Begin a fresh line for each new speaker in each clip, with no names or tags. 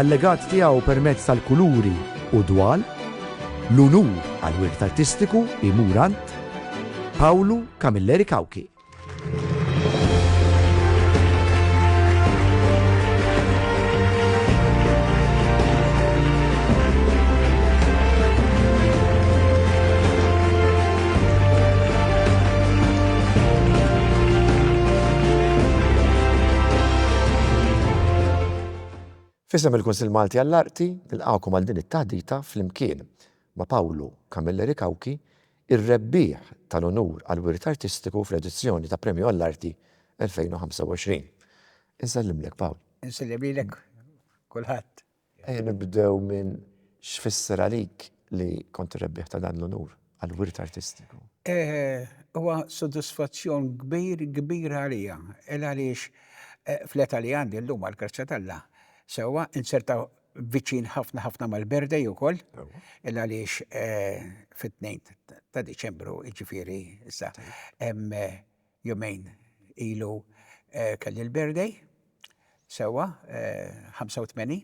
Allegat tiegħu permezz tal-kuluri u d-dwal, l-unur għall-wirt artistiku jmur għand Pawlu Camilleri Cauchi. Fisem il-Kunsill Malti għall-Arti nilqgħukom għal din it-taħdita flimkien ma' Pawlu Camilleri Cauchi, ir-rebbieħ tal-unur għall-Wirt Artistiku fl-edizzjoni ta' Premju għall-Arti 2025. Insellimlek Pawl. Insellim lilek
kulħadd. Ejja nibdew
minn x'fisser għalik li kont ir-rebbieħ ta' dan l-unur għall-wirt artistiku. Huwa
sodisfazzjon kbir, kbir għalija. Il għaliex fl-età li għandi llum, għall-grazzja t'Alla, sewwa, inserta viċin ħafna ħafna mal-birthday ukoll, il għaliex fit-tnejn ta' Diċembru, jiġifieri issa, hemm Jumejn ilu kelli l-birthday, sewwa, 85,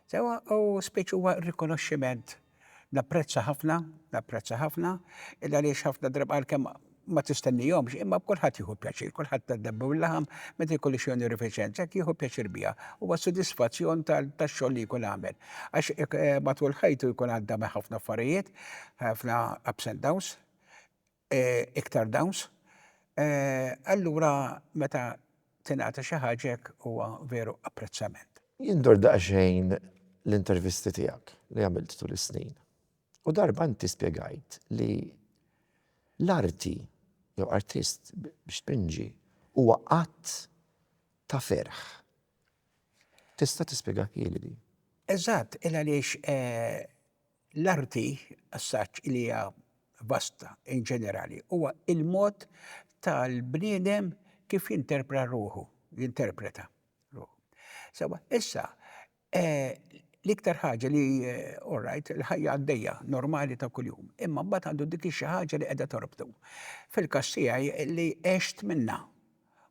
sewwa, u spiċċ huwa rikonoxximent. Napprezza ħafna, napprezza ħafna, il għaliex ħafna drabi għalkemm ma tistennihomx, imma b'kulħadd jieħu pjaċir, kulħadd ta' debba u l-laħam meta jkollu xi onorifiċenza hekk jieħu pjaċir biha. Huwa sodisfazzjon tax-xogħol li jkun għamel. Għax matul ħajtu jkun għadda minn ħafna affarijiet, ħafna ups and downs, iktar dawns, allura meta tingħata xi ħaġa hekk huwa veru apprezzament. Jien dort daqsxejn
l-intervisti tiegħek li għamilt tul is-snin u darba inti spjegajt li l-arti jew artist biex tpinġi huwa att ta' ferħ. Tista' tispjegahieli din? Eżatt,
il-għaliex L-arti, assaġġ li hija vasta in ġenerali, huwa il-mod tal-bniedem kif jinterpra ruħu, jinterpreta ruħu. Sewa, issa, l-iktar ħaġa li, all right, il-ħajja għaddejja, normali ta' kuljum, imma mbagħad għandu dik xi ħaġa li qiegħda torbtu. Fil-każ tiegħi li għext minnha.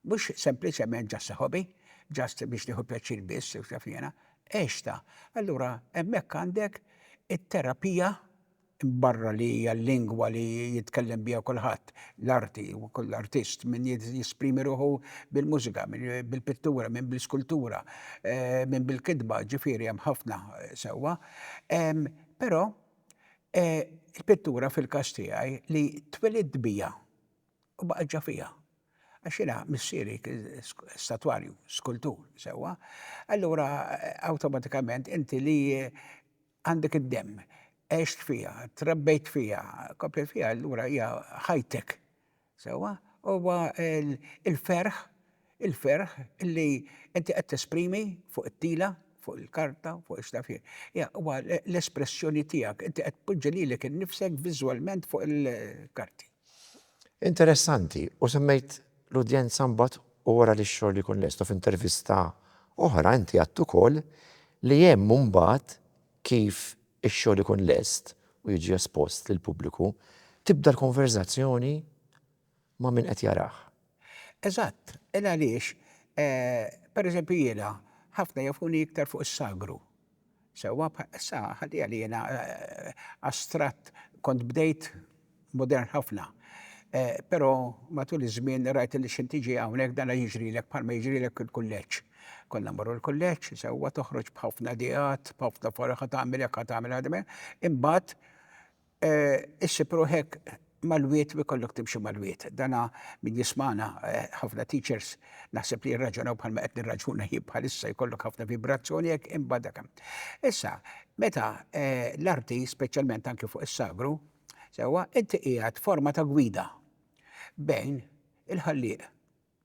Mhux sempliċement just a hobby, just biex nieħu pjaċir biss u x'naf jiena. Għextha. Allura hemmhekk għandek it-terapija, barra li hija l-lingwa li jitkellem biha kulħadd, l-arti, kull artist, min jesprimi ruħu bil-mużika, min bil-pittura, min bl-iskultura, min bil-kitba, ġifieri hemm ħafna sewwa. Però il-pittura fil-każ tiegħi li twelidt biha. U baqgħet ġa fija. Għax jiena missieri kien statwarju, skultur, sewwa, allura awtomatikament inti li għandek id-demm, għext fija, trabbejt fija, komplejt fija, allura hija ħajtek. Sewwa? Huwa l-ferħ. Il-ferħ li inti qed tesprimi fuq it-tila, fuq il-karta, fuq ix naf jien. Hija huwa l-espressjoni tiegħek, inti qed tpoġġi lilek innifsek viżwalment fuq il-karti.
Interessanti, u semmejt l-udjenza mbagħad u wara li x-xogħol jkun lest u f'intervista oħra inti għedt ukoll li hemm mbagħad kif ix-xogħol ikun lest u jiġi espost lill-pubbliku, tibda l-konverżazzjoni ma' min qed jarah. Eżatt,
il-għaliex, per eżempju jiena, ħafna jafuni iktar fuq is-sagru. Sewwa, sa ħaddiha li jiena astratt kont bdejt modern ħafna. Però matul iż-żmien rajt li x'int tiġi hawnhekk dana jiġrilek bħalma jiġrilek il-kulleġġ. Konna mmorru l-kulleġġ, sewwa, toħroġ b'ħafna ideat, b'ħafna faraħ, ħa tagħmel hekk, ħa tagħmel ħadimhekk, imbagħad, Issib ruħek mal-wied u jkollok timxi mal-wied. Dana min jismagħna ħafna teachers naħseb li jirraġunaw bħalma qed nirraġuna jien bħalissa jkollok ħafna vibrazzjoni hekk imbagħad dak hemm. Issa, meta l-arti speċjalment anki fuq is-sagru, sewwa, inti qiegħed forma ta' gwida bejn il-Ħallieq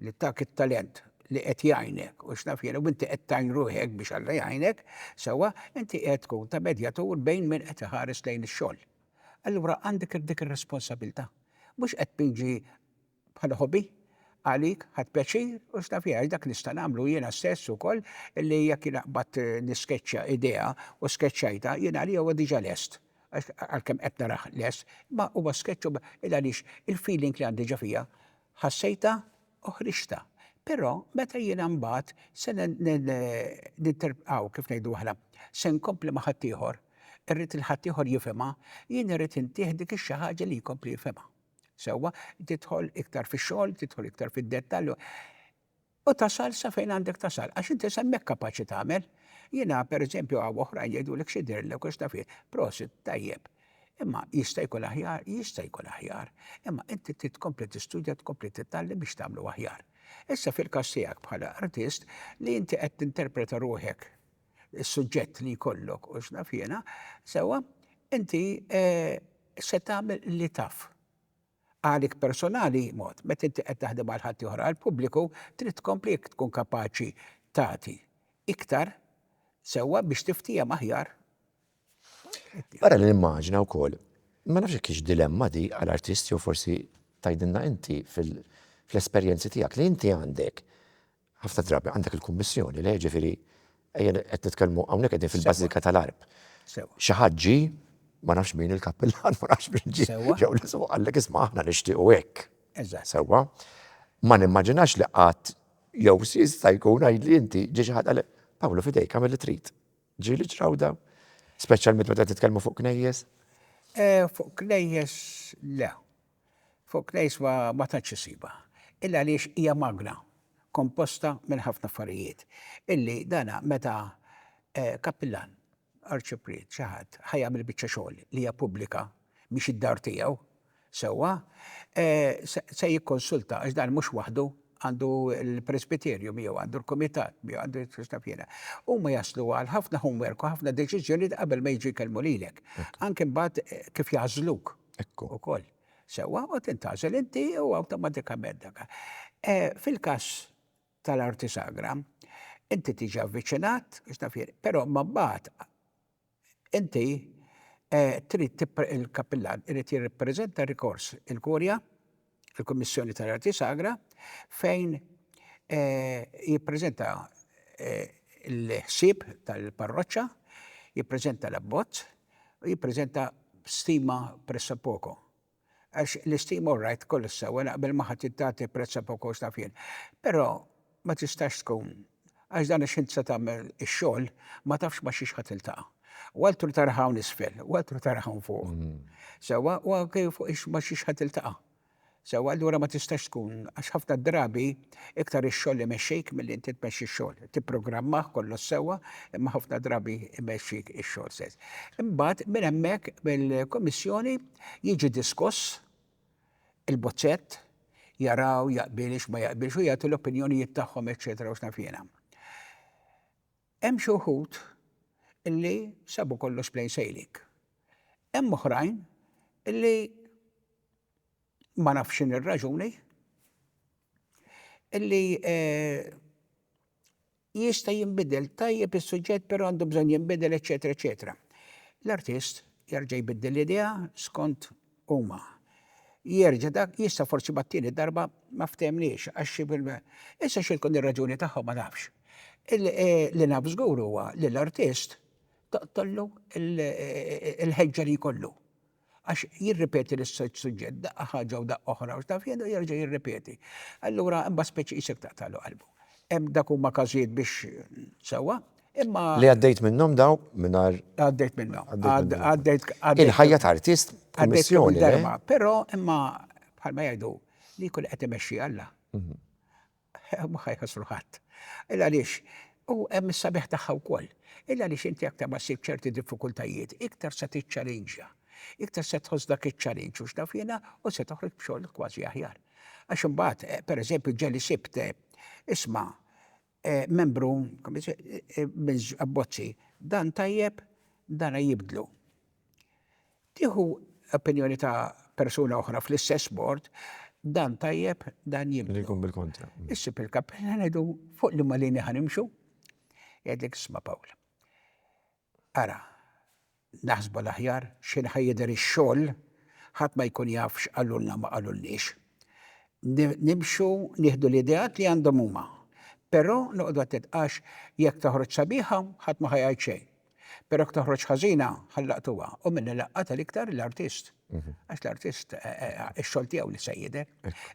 li tak it-talent, li qed jgħinek u x'naf jiena u inti qed tgħin ruħek biex Alla jgħinek, sewwa, inti qiegħed tkun ta' medjatur bejn min qed iħares lejn ix-xogħol. Allura għandek dik ir-responsabilità. Mhux qed tpinġi bħala hobby għalik, ħadt pjaċir u x'naf jien, għax dak nista' nagħmlu jiena stess ukoll li jekk jiena qbadt niskeċċja idea u skeċċajtha, jien għalija huwa diġà lest, għax għalkemm qed narah lest, imma huwa skeċċ u il-għaliex il-feeling li għandi ġo fija Ħassejtha u ħriġtha. Però meta jiena mbagħad se ninterpretaw kif ngħidu aħna, se nkompli ma' ħaddieħor, irrid il-ħaddieħor jifhimha, jien irrid intih dik ix-xi ħaġa li jkompli jifhimha. Sewwa, tidħol iktar fix-xogħol, tidħol iktar fid-dettall. U tasal sa fejn għandek tasal, għax inti semmek kapaċi tagħmel. Jiena pereżempju hawn oħrajn jgħidulek xi dirlek u x'taf jien. Prosit, tajjeb. Imma jista' jkun aħjar? Jista' jkun aħjar. Imma inti trid tkompli tistudja, tkompli titgħallem biex tagħmlu aħjar. Issa fil-każ tiegħek bħala artist li inti qed tinterpreta ruħek is-suġġett li jkollok u x'naf jiena, sewwa, inti eh, se tagħmel li taf. Għalik personali, mod, meta inti qed taħdem għal ħaddieħor, għall-pubbliku, trid tkompli jekk tkun kapaċi tagħti iktar sewwa biex tiftiehem aħjar.
Ara li nimmaġina wkoll, ma nafx jekk hix dilemma di għal artist jew forsi tgħidilna inti fl-esperjenzi tiegħek li inti għandek Ħafna drabi għandek il-Kummissjoni le, ġifieri ejja qed nitkellmu hawnhekk qegħdin fil-bażilika tal-Għarb. Xi ħadd ġie, ma nafx min il-kappillan, ma nafx min ġie, jew li sewa qallek isma' aħna nixtiequ hekk. Sewwa? Ma nimmaġinax li qatt jew jista' jkun għidli inti ġie xi ħadd qalek, Pawlu f'idejk agħmel li trid. Ġieli ġraw dawn? Speċjalment meta qed nitkellmu fuq knejjes? Fuq
knejjes le. Fuq Knejs ma ma tantx issibha. Illa għaliex hija magna komposta minn ħafna affarijiet illi dana meta kappillan, arċipriet, xi ħadd ħa jagħmel biċċa xogħol li hija pubblika mhix id-dar tiegħu sewwa se jikkonsulta għax dan mhux waħdu. għandu l-presbiterju miegħu, għandu l-kumitat miegħu, għandu jitfux naf jiena. Huma jaslu għal ħafna homework u ħafna deċiżjonijiet qabel ma jiġu jkellmu lilek. Anke mbagħad eh, kif jażluk. Ekku. Ukoll. Sewwa u tintgħażel inti u awtomatikament dak. Eh, fil-każ tal-arti sagra, inti tiġi avviċinat, biex naf jien, però ma mbagħad Inti trid il-Kappillan irid jirrappreżenta rikors il-Kurja, il-Kummissjoni tal-Arti Sagra, fejn jippreżenta l-ħsieb tal-parroċċa, jippreżenta l-abbozz u jippreżenta stima pressappoco. Għax l-istima u r-rajt kollox sewwa naqbel ma' ħadd tagħti prezz għal poco x'naf jien. Però ma tistax tkun għax dan għax int se tagħmel ix-xogħol ma tafx ma' xiex ħa tiltaqa'. U altru taraha hawn isfel u altru taraha hawn fuq. Sewwa u anke fuq ma' xiex ħa tiltaqa'. Sewwa allura ma tistax tkun għax ħafna drabi. Iktar ix-xogħol imexxik milli inti tmexxi x-xogħol. Tipprogrammah kollox sewwa, imma ħafna drabi jmexxik ix-xogħol stess. Imbagħad minn hemmhekk mill-Kummissjoni jiġi diskuss il-bozzett, jaraw jaqbilx ma jaqbilx u jagħtu l-opinjonijiet tagħhom eċċetera u x'naf jiena. Hemm xi wħud illi sabu kollox plain sailing. Hemm oħrajn illi ma nafx x'inhi r-raġuni, illi jista' jinbidel tajjeb is-suġġett però għandu bżonn jinbidel eċetera eċetera. L-artist jerġa' jbiddel l-idea skont huma. Jerġa' dak jista' forsi mat-tieni darba ma ftemniex għax xi Issa xi tkun ir-raġuni tagħhom ma nafx. Li naf żgur huwa li l-artist toqtollu l-ħeġġa li jkollu. Għax jirripeti l-istess suġġett daqqa ħaġa u daqqa oħra u x'taf jien u jerġa' jirripeti. Allura imbagħad speċi qisek taqtagħlu qalbu. Hemm dak huma każijiet biex sewwa, imma. Li għaddejt minnhom
dawn mingħajr. Għaddejt minnhom.
Għaddejt.
Il-ħajja ta' artist b'missjoni. Però
imma bħalma jgħidu li kull qed imexxi Alla. Mhux ħajħassru ħadd. Illa għaliex, u hemm is-sabiħ tagħha wkoll. Illa għaliex inti aktar ma ssib ċerti diffikultajiet, iktar se tiċċalinġja. Iktar se tħoss dak iċ-ċalinġ u x'naf jiena u se toħroġ b'xogħol kważi aħjar. Għax imbagħad, pereżempju, ġeli sibt, isma', membru, minn Abbozzi, dan tajjeb, dan jibdlu. Tieħu opinjoni ta' persuna oħra fl-istess bord, dan tajjeb, dan jibdlu. Li jkun bil-kontra. Issib
il-kap, ħa
ngħidu fuq liema linja ħa nimxu, jgħidlek isma' Pawl. Ara, naħsbu l-aħjar x'ħin ħa jidher ix-xogħol, ħadd ma jkun jaf x'qalulna u ma qalulniex. Nimxu nieħdu l-ideat li għandhom huma. Però noqogħdu attent għax jekk toħroġ sabiħa, ħadd ma ħa jgħid xejn. Perok toħroġ ħażina ħallaqtuha u minni laqqa tal-iktar l-artist. Mhm. Għax l-artist eh, eh, eh, ix-xogħol tiegħu li se jidher.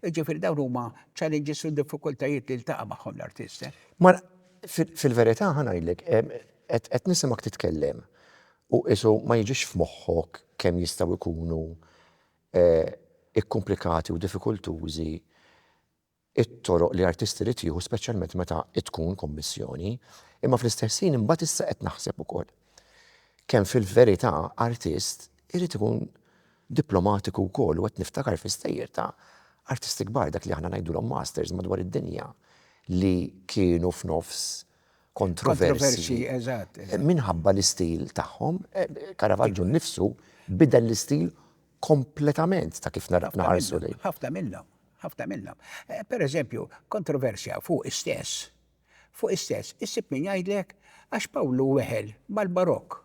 Ġifieri dawn huma challenges u diffikultajiet li ltaqa' magħhom l-artist. Mar
fil-verità ħanajlek qed nisimak titkellem u isu ma jiġix f'moħħok kemm jistgħu jkunu ikkomplikati u diffikultużi it-toroq li artist irid jieħu speċjalment meta tkun kummissjoni, imma fl-istess ħin imbagħad issa qed naħseb ukoll kemm fil-verità artist irid ikun diplomatiku wkoll u qed niftakar fi stejjer ta' artisti kbar dak li aħna ngħidulhom masters madwar id-dinja li kienu f'nofs kontroversji
minħabba l-istil
tagħhom. Caravaggio nnifsu bidel l-istil kompletament ta' kif naraw naħarsu lejn. Ħafna minnhom,
ħafna minnhom. Pereżempju, kontroversja fuq istess, fuq istess, issib min jgħidlek għax Pawlu weħel mal-barokk.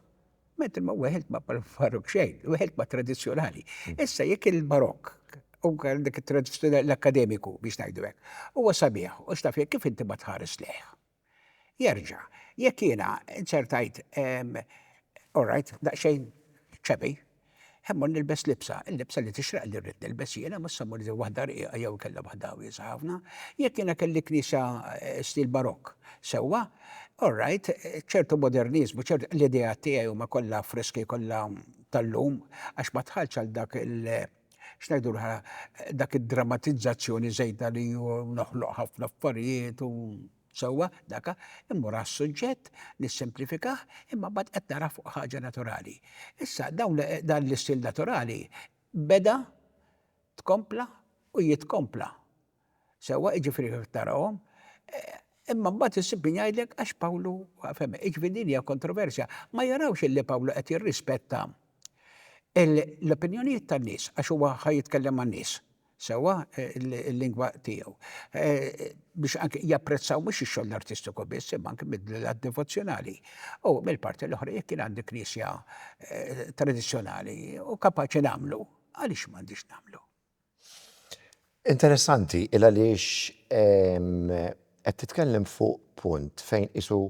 Mentri ma weħelt ma' barokk xejn, weħelt ma' tradizzjonali. Issa jekk il-barokk u dik it-tradizzjonali l-akademiku biex ngħidu hekk, huwa sabiħ u x'taf kif inti ma tħares lejh. Jerġa', jekk jiena inzertajt, all right, daqsxejn chubby, immur nilbes libsa, il-libsa li tixraqli li rrid nilbes jiena, mhux se mmur nilbes waħda rqiqa jew inkella waħda wiesgħa ħafna. Jekk jiena kelli knisja stil barokk sewwa, all right, ċertu moderniżmu, ċertu, l-ideat tiegħi huma kollha friski, kollha tal-lum, għax ma dħaltx għal dak X'ngħidu dak id-dramatizzazzjoni żejda li noħloq ħafna affarijiet u sewwa daka, immur għas-suġġett, nissimplifikah, imma mbagħad qed nara fuq ħaġa naturali. Issa dawn dan l-istil naturali beda, tkompla u jitkompla. Sewwa, jiġifieri kif tarahom, imma mbagħad issib min jgħidlek għax Pawlu, fehmi, jiġifieri din hija kontroversja. Ma jarawx illi Pawlu qed jirrispetta l-opinjonijiet tan-nies għax huwa ħa jitkellem man-nies, sewwa, il-lingwa tiegħu. Biex anki japprezzaw mhux ix-xogħol artistiku biss, imma anki mill-lat devozzjonali. U mill-parti l-oħra jekk jien għandi knisja tradizzjonali u kapaċi nagħmlu, għaliex m'għandix nagħmlu? Interessanti
il għaliex qed titkellem fuq punt fejn qisu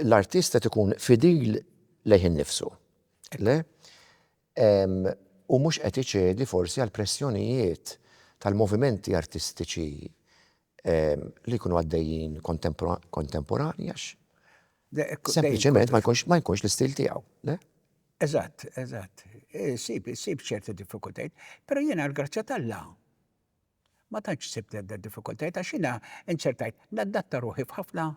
l-artist qed ikun fidil lejh innifsu, le? U mhux qed iċedi forsi għall-pressjonijiet tal-movimenti artistiċi li jkunu għaddejjin kontemporanji għax sempliċement ma jkunx ma jkunx l-istil tiegħu. Eżatt,
eżatt. Eh, sib, sib ċerti diffikultajt, pero jena l-grazzja tal-la. Ma tantx sibt għadda diffikultajt, għax jena inċertajt, naddatta ruħi f'ħafna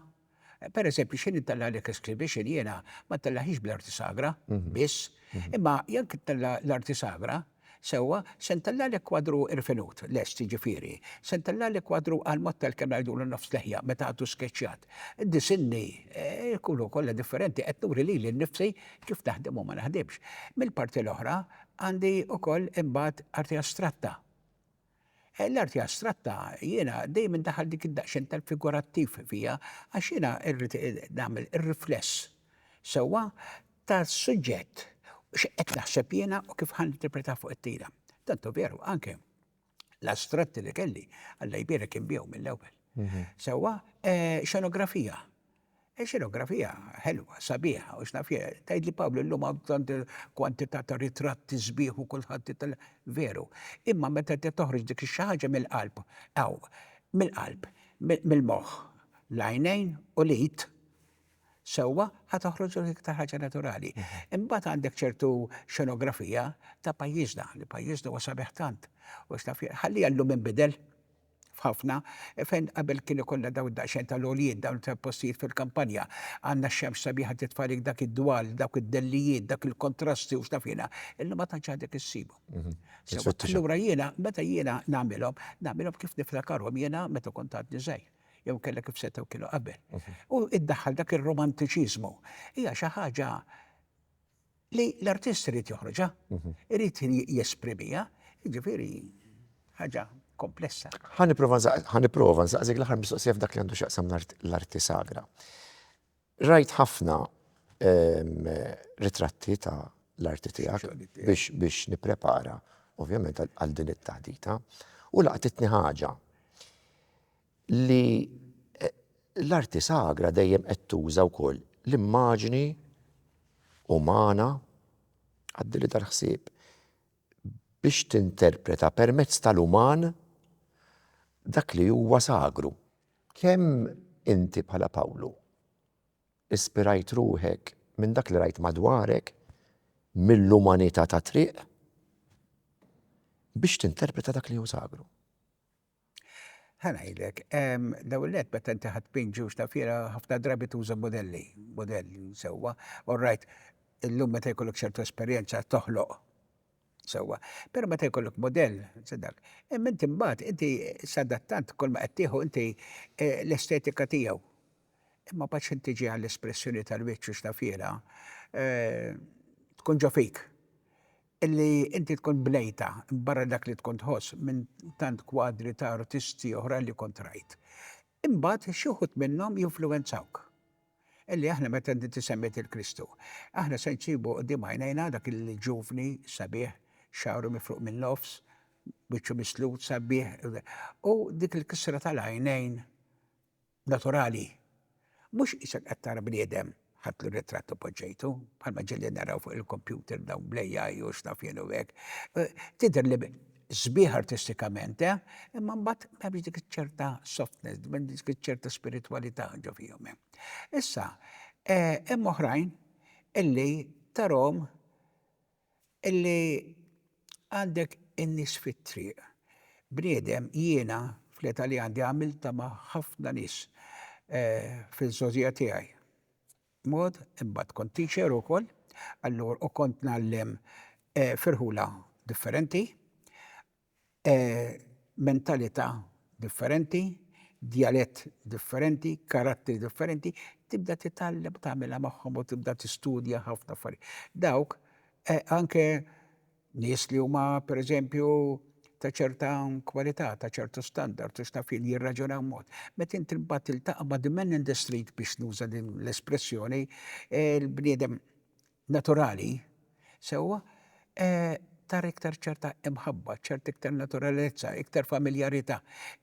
Per eżempju, xejn ittella għalek escribixin jiena ma tellaħix bl-arti sagra, mhm. biss, mhm. imma jekk ittella l-arti sagra, sewa, se ntella għalek kwadru irfinut, lest ġifiri, se ntella għalek kwadru għal-mod tal-kem najdu l-nofs leħja meta għadu skeċjat. Disinni, eh, kullu kolla differenti, qed nuri li l-nifsi kif naħdem u ma naħdimx. Mill-parti l-oħra, għandi u koll imbat arti astratta. L-arti astratta jiena dejjem indaħħal dik id-daqxen tal-figurattiv fija għax jiena rrid nagħmel ir-rifless sewwa tas-suġġett x'qed naħseb jiena u kif ħa ninterpretah fuq it-tira. Tantu veru, anke l-astratti li kelli, Alla jbierek kien bihom mill-ewwel. Sewwa, eh, xenografija. Xenografija ħelwa, sabiħa u x'naf jien. Tgħidli Pawlu llum hawn tant kwantità ta' ritratti sbieħ u kulħadd itel-. Veru. Imma meta inti toħroġ dik xi ħaġa mill-qalb, hawn, mill-qalb, mill-moħħ, l-għajnejn u l-id sewwa ħa toħroġ l-iktar ħaġa naturali. Imbagħad għandek ċertu xenografija ta' pajjiżna, li pajjiżna huwa sabiħ tant u x'naf jien. Ħalliha llum inbidel. f'ħafna, fejn qabel kien ikollha dawn daqsxejn tal-għoljiet, dawn tal-postijiet fil-kampanja, għandna x-xemx sabiħa titfa' għalik dak id-dwal, dawk id-dellijiet, dak il-kontrasti u x'naf jiena, illum ma tantx għadek issibhom. Sewa, allura jiena meta jiena nagħmilhom, nagħmilhom kif niftakarhom jiena meta kont għadni żgħir, jew inkella kif setgħu kienu qabel. U iddaħħal dak ir-romantiċiżmu. Hija xi ħaġa Li l-artist irid joħroġha, mhm. irid jesprimiha, jiġifieri ħaġa komplessa.
Ħaniprofa nsaqsik l-aħħar mistoqsija f'dak li għandu x'aqsam l-arti sagra. Rajt ħafna ehm, ritratti ta' l-arti tiegħek biex nipprepara ovvjament għal din it-taħdita u laqtitni ħaġa. li l-arti sagra dejjem qed tuża wkoll l-immaġni umana, għaddili dal-ħsieb, biex tinterpreta permezz tal-uman dak li huwa sagru. Kemm inti bħala Pawlu ispirajt ruħek minn dak li rajt madwarek, mill-umanità tat-triq, biex tinterpreta dak li hu sagru? Ħa
ngħidlek, l-ewwel nett meta inti ħadd pin ġewġ ta' fiera ħafna drabi tuża modelli, modell sewwa. All right, illum meta jkollok ċertu esperjenza toħloq sewwa. Però meta jkollok modell, se dak. Imma inti mbagħad inti sadattant kull ma qed tieħu inti eh, l-estetika tiegħu. Imma mbagħad x'inti tiġi għall-espressjoni tal-wiċċ u x'ta' fiera eh, tkun ġo fik. Illi inti tkun bnejta, barra dak li tkun tħoss minn tant kwadri ta' artisti oħra li kont rajt. Imbagħad xi wħud minnhom jinfluwenzawk. Illi aħna meta inti semmiet lil Kristu, aħna se nsibu quddiem għajnejna dak il-ġuvni sabiħ, xagħru mifruq min-nofs, wiċċu mislut, sabiħ, u dik il-kisra tal-għajnejn, naturali, mhux qisek qed tara bniedem ħadtlu ritratt u poġġejtu, bħalma ġieli naraw fuq il-kompjuter dawn bl-AI u x'naf jien u hekk. Tidher li sbieħ artistikament, imma mbagħad m'hemmx dik iċ-ċerta softness, m'hemmx dik iċ-ċerta spiritwalità ġo fihom. Issa, hemm oħrajn illi tarahom Illi għandek in-nies fit-triq. Bniedem jiena fl-età li għandi għamiltha ma' ħafna nies fil-żgħożija tiegħi. Mod, imbagħad kont teacher ukoll, allura u kont ngħallem f'irħula differenti. mentalità differenti, djalett differenti, karattri differenti, tibda titgħallem u tagħmilha magħhom u tibda tistudja ħafna affarijiet. Dawk anke nies li huma pereżempju ta' ċerta kwalità, ta' ċertu standard u x'taf jien jirraġunaw mod. Meta inti mbagħad tiltaqa' ma' the man in the street biex nuża din l-espressjoni, il-bniedem naturali, sewwa, tara iktar ċerta imħabba, ċerta iktar naturalezza, iktar familjarità,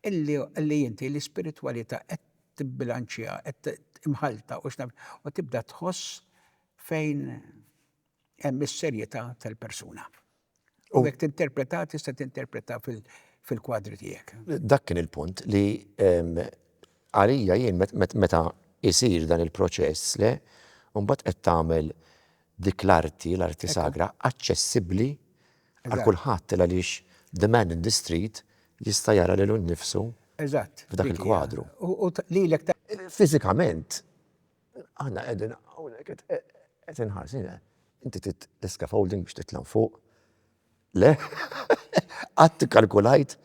li inti l-ispiritwalità qed tibbilanċja, qed imħallta u x'naf, u tibda tħoss fejn hemm is-serjetà tal-persuna. U jekk tinterpreta tista' tinterpreta fil-kwadri tiegħek. Dak kien il-punt
li ehm, għalija jien meta isir dan il-proċess le, mbagħad qed tagħmel dik l-arti, l-arti sagra, aċċessibbli għal kulħadd għaliex the man in the street jista' jara lilu nnifsu f'dak il-kwadru. U lilek
Fiżikament
Aħna qegħdin hawnhekk qed inħarsu jien inti trid l-scaffolding biex titla' fuq. Le? Qatt ikkalkulajt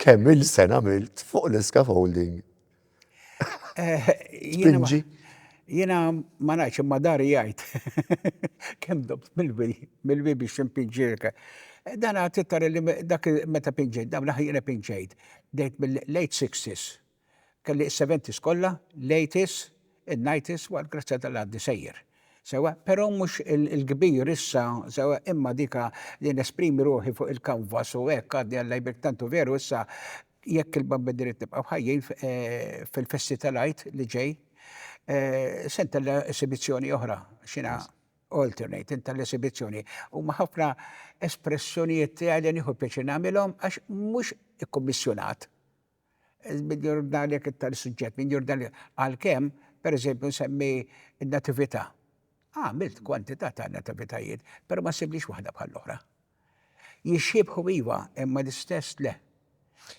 kemm il-sen għamilt fuq l-scaffolding? Eh, Spinġi? Jiena
ma nafx imma dari jgħid. Kemm dobt mill-bi biex impinġirka. Eh, dan għad tittar li dak meta pinġejt, dam laħ jiena pinġejt. Dejt mill-late 60s. Kelli s-seventies kollha, l-eighties, in-nighties, waqt grazzja ta' l-għaddi sejjer. Sewwa, però mhux il-kbir issa, sewwa, imma dik li nesprimi ruħi fuq il-kanvas u hekk għadni Alla jibrik tant hu veru issa jekk il-Bambini rrid nibqgħu ħajjin fil-festi ta' l-Għid li ġej se ntella' esibizzjoni oħra għax jiena alternate intella' esibizzjoni. Huma ħafna espressjonijiet tiegħi li nieħu pjaċir nagħmilhom għax mhux ikkummissjunat. Mill-Jordanja jekk iktar is-suġġett, mill-Jordanja. Għalkemm, per eżempju, nsemmi n-Natività. Għamilt kwantità ta' Nativitajiet, però ma ssibniex waħda bħall-oħra. Jixxiebħu iva, imma l-istess le.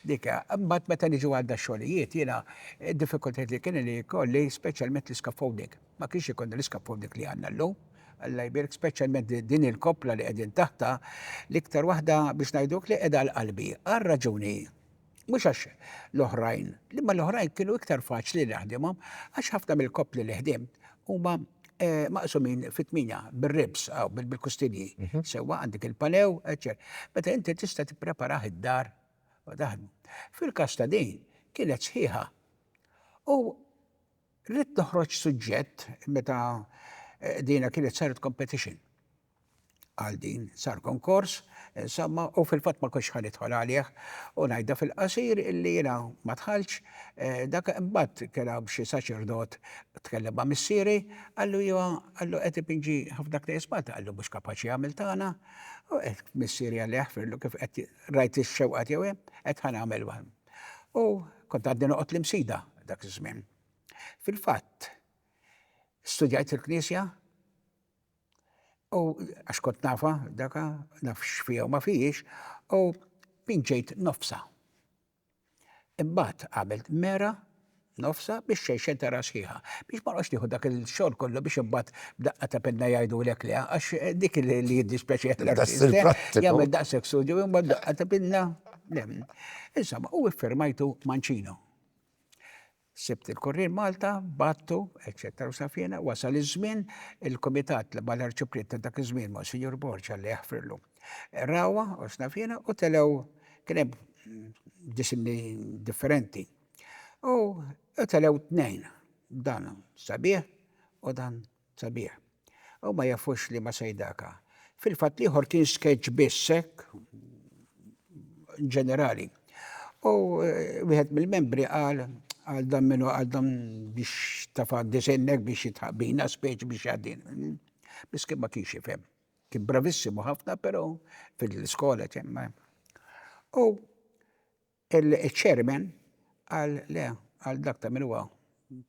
Dik hija. Imbagħad meta niġu għal dax-xogħlijiet, jiena d-diffikultajiet li kien li jkolli speċjalment l-iscaffolding. Ma kienx ikollna l-iscaffolding li għandna llum. Alla jbierek, speċjalment din il-koppla li qegħdin taħtha, l-iktar waħda biex ngħiduk li qiegħda għal qalbi, għal raġuni. Mhux għax l-oħrajn, li ma l-oħrajn kienu iktar faċli li naħdimhom, għax ħafna mill-koppli li ħdimt huma eh, maqsumin fit-tminja bir-ribs aw bil-kustinji. Mhm. Sewwa għandek il-panew, eċċer. Meta inti tista' tippreparah id-dar u taħdmu. Fil-każ ta' din kienet sħiħa. U rrid noħroġ suġġett meta eh, dina kienet saret competition. Għal din sar konkors, insomma, u fil-fatt ma konx ħa nidħol għalih u ngħidha fil-qasir illi jiena ma dħaltx, eh, dak imbagħad kien hawn xi saċerdot tkellem ma' missieri, qallu jiva, qallu qed ipinġi ħafna knejjes Malta, qallu mhux kapaċi jagħmel tagħna, u eh, missieri għalli jaħfirlu kif qed rajt ix-xewqa tiegħu hemm, qed ħa nagħmel U kont għaddi noqgħod l-imsida dak iż-żmien. Fil-fatt, studjajt il-Knisja, U għax kont nafa daka, naf x'fija u ma fijiex, u pinġejt nofsa. Imbagħad għamilt mera nofsa biex xejxen tara sħiħa. Biex ma noqgħodx nieħu dak il-xogħol kollu biex imbagħad b'daqqa ta' penna jgħidulek le, għax dik li jiddispjaċi
jagħmel daqshekk studju
u mbagħad b'daqqa ta' penna. Insomma, u iffirmajtu Mancino. Sibt il-Kurrier Malta, bgħattu, eċċetera u safjena, wasal iż-żmien, il-Kumitat li bħala Arċipriet ta' dak iż-żmien, Monsinjur Borg, Alla jaħfirlu, rawha u safjena u telgħu, kien hemm disinni differenti, u telgħu tnejn, dan sabiħ u dan Sabiħ. U ma jafux li ma sejdaka. Fil-fatt l-ieħor kien sketch biss hekk ġenerali. U wieħed mill-membri qal għal dan minnu għal dan biex tafa disinnek biex jitħaq bina speċi biex jadin. Bis kien ma kienx jifhem. Kien bravissimu ħafna, pero fil-skola ċemma. U Il-Chairman qal le għal dak ta' min huwa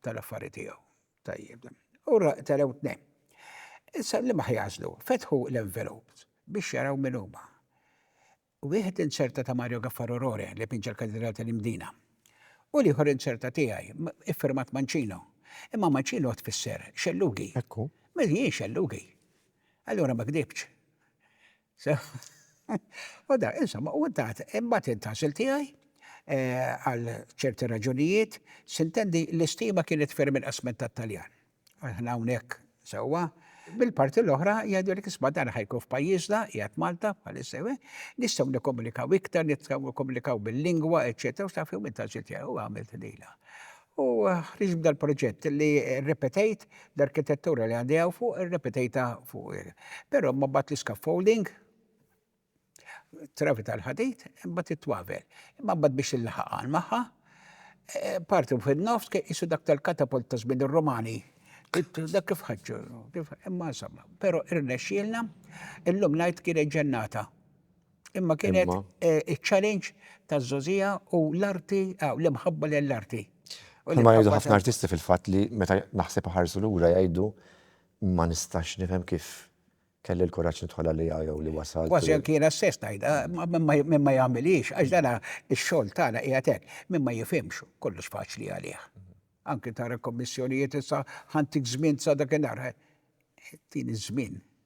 tal-affari tiegħu. Tajjeb dan. U telgħu tnejn. Issa liema ħa jagħżlu? Fetħu l-envelopes biex jaraw min huma. Wieħed inzerta ta' Mario Gaffarro Rore li pinġa l-Katidral tal-Imdina. U l-ieħor inzerta tiegħi, iffirmat Mancino. Imma Mancino tfisser xellugi. Ekku. Mela jien
xellugi.
Allura ma kdibtx. U da, insomma, u tat, imbagħad intasil tiegħi eh, għal ċerti raġunijiet, sintendi l-istima kienet ferm inqas minn tat-Taljan. Aħna hawnhekk sewwa, bil-parti l-oħra jgħidu li kisma dan ħajkun f'pajjiżna, jgħat Malta, bħalissa eh, nistgħu nikkomunikaw iktar, nistgħu nikkomunikaw bil-lingwa, eċċetera, u taf jew intasil tiegħi u għamilt lila. U ħriġ b'dal proġett li rrepetejt l-arkitettura li għandi hawn fuq, irrepetejta fuq. Però ma bat l-scaffolding, travi tal-ħadid, imbagħad it-twavel. Imma mbagħad biex il-ħaqan magħha, eh, parti fin-nofs kien qisu dak tal-katapult ta' żmien ir-Romani. Dak kif ħaġġu, imma insomma, però irnexxielna, illum ngħid kienet ġennata. Imma kienet Imma. eh, iċ-challenge taż-żogħżija u l-arti, ah, l-imħabba lill-arti. U Bħalma jgħidu l-imħabba
ħafna ta- artisti fil-fatt li meta naħseb iħarsu lura jgħidu ma nistax nifhem kif kelli l-kuraġġ nidħol għalija jew li wasalt. Kważi u- anki jiena stess
ngħidha, ma- min ma- min ma jagħmilhiex, għax dana x-xogħol tagħna qiegħed hekk, min ma jifhimx kollox faċli għalih. Anki tara kommissjonijiet issa ħantik żmien sa dakinhar. Din iż-żmien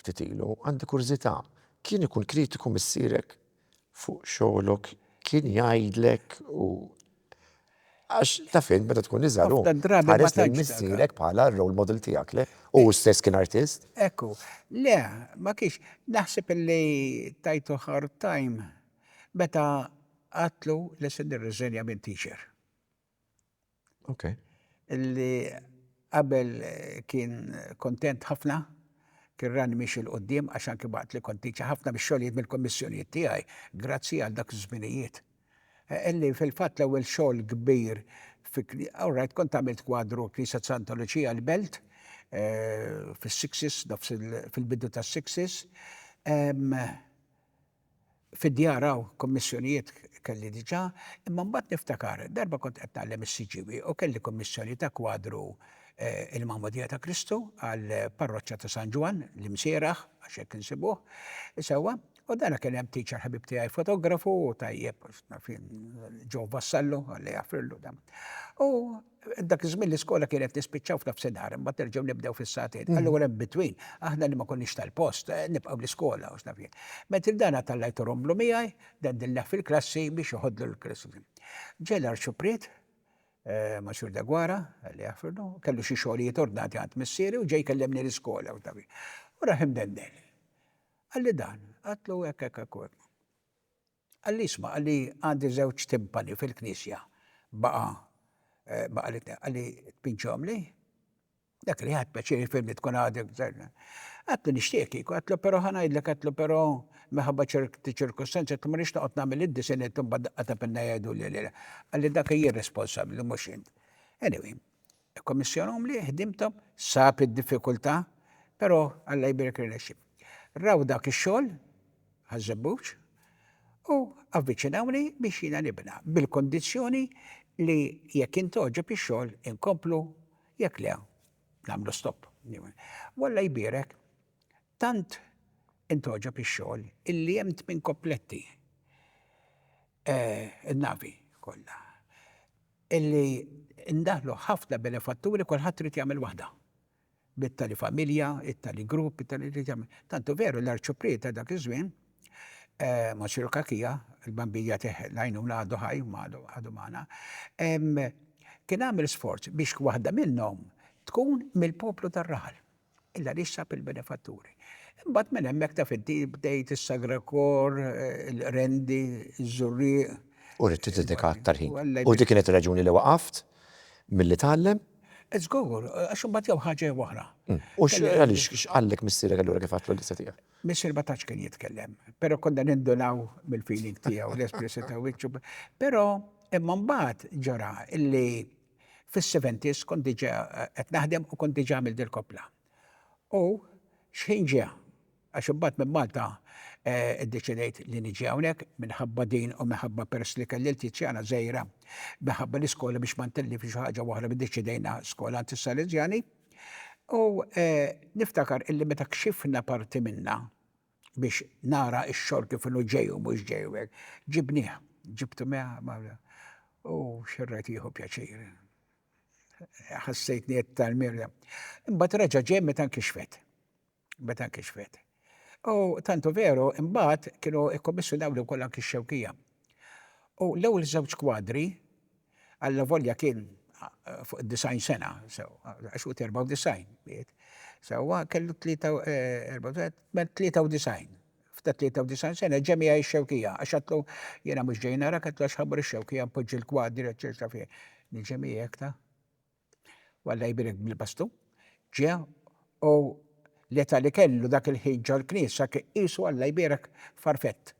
ftit ilu, għandi kurżità, kien ikun kritiku missierek fuq xogħlok? Kien jgħidlek u għax taf int meta tkun iżgħar hu tħares lejn missierek bħala r-role model tiegħek, le? U hu stess kien artist? Ekku, le,
ma kienx. Naħseb illi tajtu hard time meta għadtlu li se nirriżenja minn teacher.
Okay. Illi
qabel kien kontent ħafna, kien rani miex il-qoddim, għax anki waqt li kont tiċa ħafna biex xogħlijiet mill-kommissjonijiet tiegħi, grazzi għal dak iż-żminijiet. Illi fil-fatt l-ewwel xogħol kbir, all right, kont għamilt kwadru Knisja Santa Luċija l-Belt, fis-sixties, nofs fil-bidu tas-sixties, Fid-djar hawn kummissjonijiet kelli diġà, imma mbagħad niftakar darba kont qed ngħallem is-CGWI u kelli kummissjoni ta' kwadru Il-Magħmudija ta' Kristu għall-parroċċa ta' San Ġwann, l-Imsieraħ, għax hekk insibuh, sewwa, u dana kien hemm teacher ħabib tiegħi fotografu u tajjeb, ġo Vassallo, Alla jagħfrillu, u. Dak iż-żmien l-iskola kienet nispiċċaw f'nofsinhar, imbagħad nerġgħu nibdew fis-sagħtejn. Mm. Allura in between, aħna li ma konniex tal-post, eh, nibqgħu l-iskola u x'naf jien. Ment il-dana tallajtu romlu miegħi, dandilna fil-klassi biex joħodlu l-klassi. Ġej l-Arċuprit, eh, Maċur Dagwara, li jaħfirnu, kellu xi xogħlijiet ordnati għand missieri u ġej kellemni l-iskola u x'naf jien. U raħ imdendel. Għalli dan, għatlu hekk hekk hekk. Qal li isma' qal li għandi żewġ timpani fil-knisja baqa' baqa' li qal li tpinġhomli? Dak li ħadt pjaċir jifhim li tkun għadek Għadtlu nixtieqek kieku għadtlu però ħa ngħidlek għadtlu però minħabba ċerti ċirkustanzi għadtlu ma rridx noqgħod nagħmel id-disinn imbagħad daqqa ta' pinna jgħiduli li qal li dak hi r-responsabbli mhux int. Anyway. Ikkommissjonahom li ħdimthom sab id-diffikultà però Alla jbierek irnexxi. Raw dak ix-xogħol Ħaż-Żebbuġ u avviċinawni biex jiena nibna bil-kundizzjoni li jekk jien togħġob ix-xogħol inkomplu jekk le nagħmlu stop. U Alla jbierek tant intogħġob ix-xogħol illi hemm tmien kompletti n-navi kollha. illi ndaħlu ħafna benefatturi kulħadd irid jagħmel waħda. Bit-tali familja, it-tali grupp, it-tali irid jagħmel. Tantu veru l-Arċipriet ta' dak iż-żmien, Monsiru Cachia, il-Bambin jagħtih l-għajnuna għadu ħaj, għadu magħna, kien għamel sforz biex waħda minnhom tkun mill-poplu tar-raħal. Illa li ssab il-benefatturi. Imbagħad minn hemmhekk taf inti bdejt is-Sagra Kor, il-Qrendi, iż-Żurrieq. U ridt
tiddedika aktar ħin. U dik kienet ir-raġuni li waqaft milli tgħallem? Żgur,
għax imbagħad jew ħaġa jew oħra. U għaliex
x'qallek missierek allura kif għadtlu l-lista tiegħek? Missier ma tantx kien
jitkellem, però konna nindunaw mill-feeling tiegħu, l-espressjoni ta' wiċċu. Però imma mbagħad ġara illi Fis-seventies kont diġà qed naħdem u kont diġà għamilt dil-koppla. U x'ħin ġie, għax imbagħad minn Malta iddeċidejt li niġi hawnhekk minħabba din u minħabba peress li kelli l-Tiziana żgħira, minħabba l-iskola biex ma ntellifx u ħaġa u oħra ddeċidejna skola għand is-Salesjani. U niftakar illi meta kxifna parti minnha, biex nara x-xogħol kif inhu ġej u mhux ġej u hekk. Ġibnieh, ġibtu miegħi u xerrajt jieħu pjaċir. Ħassejtni qed tal-mir. Imbagħad reġa' ġej meta nkixfet. Meta nkixfet. U tantu veru, imbagħad kienu ikkommissjonaw li wkoll anki x-xewkija. U l-ewwel żewġ kwadri allavolja kien fuq id-90 sena, sewwa, għax hu 94 miet, sewwa, kellu 93, f'ta' 93 sena ġie miegħi x-Xewkija, għax għedtlu jiena mhux ġej narak, għedtlu għax ħa mmur ix-Xewkija npoġġi l-kwadri, eċċetera, fih. Niġi miegħek ta'? u Alla jbierek bil-bastu, ġie u l-età li kellu dak il-ħin ġol-Knisja kien qisu Alla jbierek farfett.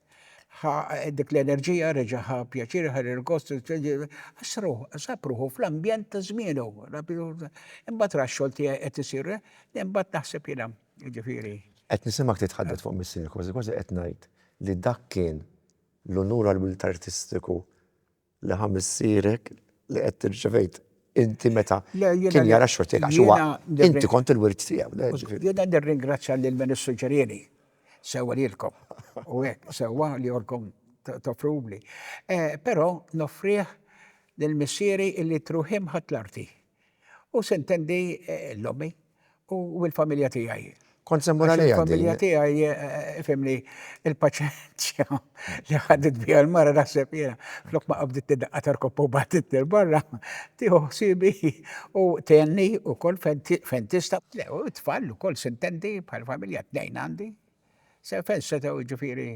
Ħa dik l-enerġija, reġa' ħa pjaċir, ħa l-irgost, għax ruħu, sab ruħu fl-ambjent ta' żmienu. Imbagħad ra x-xogħol tiegħi qed isir, imbagħad naħseb jiena, jiġifieri. Qed nisimgħek
titħaddet fuq missierek, kważi kważi qed ngħid li dak kien l-unur għall-wild artistiku li ħa missierek li qed tirċevejt inti meta kien jara x-xogħol tiegħek għax huwa inti kont il-wirt tiegħu. Jiena nirringrazzja
lil min issuġġerieli sewwa lilkom u hekk sewwa li jkollkom toffruli. Però noffrih lil missieri li t-ruħi mħatt l-arti. U se ntendi l-ommi u l-familja tiegħi. Kont se mmur għalija.
Il-familja tiegħi,
fimni, il-paċenzja li ħadet bija l-mara naħseb jiena, flok ma qabdiet tiddaqqa tarkoppa u bagħtitni l-barra, tieħu ħsiebi u tgħenni wkoll fejn tista'. Le, u t-tfal ukoll se ntendi bħala familja, tnejn għandi, fejn setgħu jiġifieri.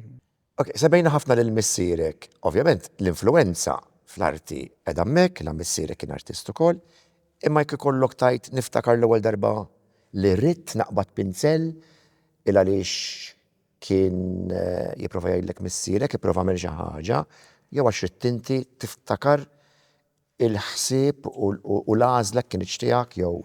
Ok, sebejna
ħafna lil missierek. Ovvjament, l-influwenza fl-arti qegħda hemmhekk, la missierek kien artist ukoll, imma jekk ikollok tgħid niftakar l-ewwel darba li ridt naqbad pinzell il għaliex kien jipprova jgħidlek missierek ipprova għamel xi ħaġa jew għax ridt inti tiftakar Il-ħsieb u l-għażla kinitx tiegħek jew?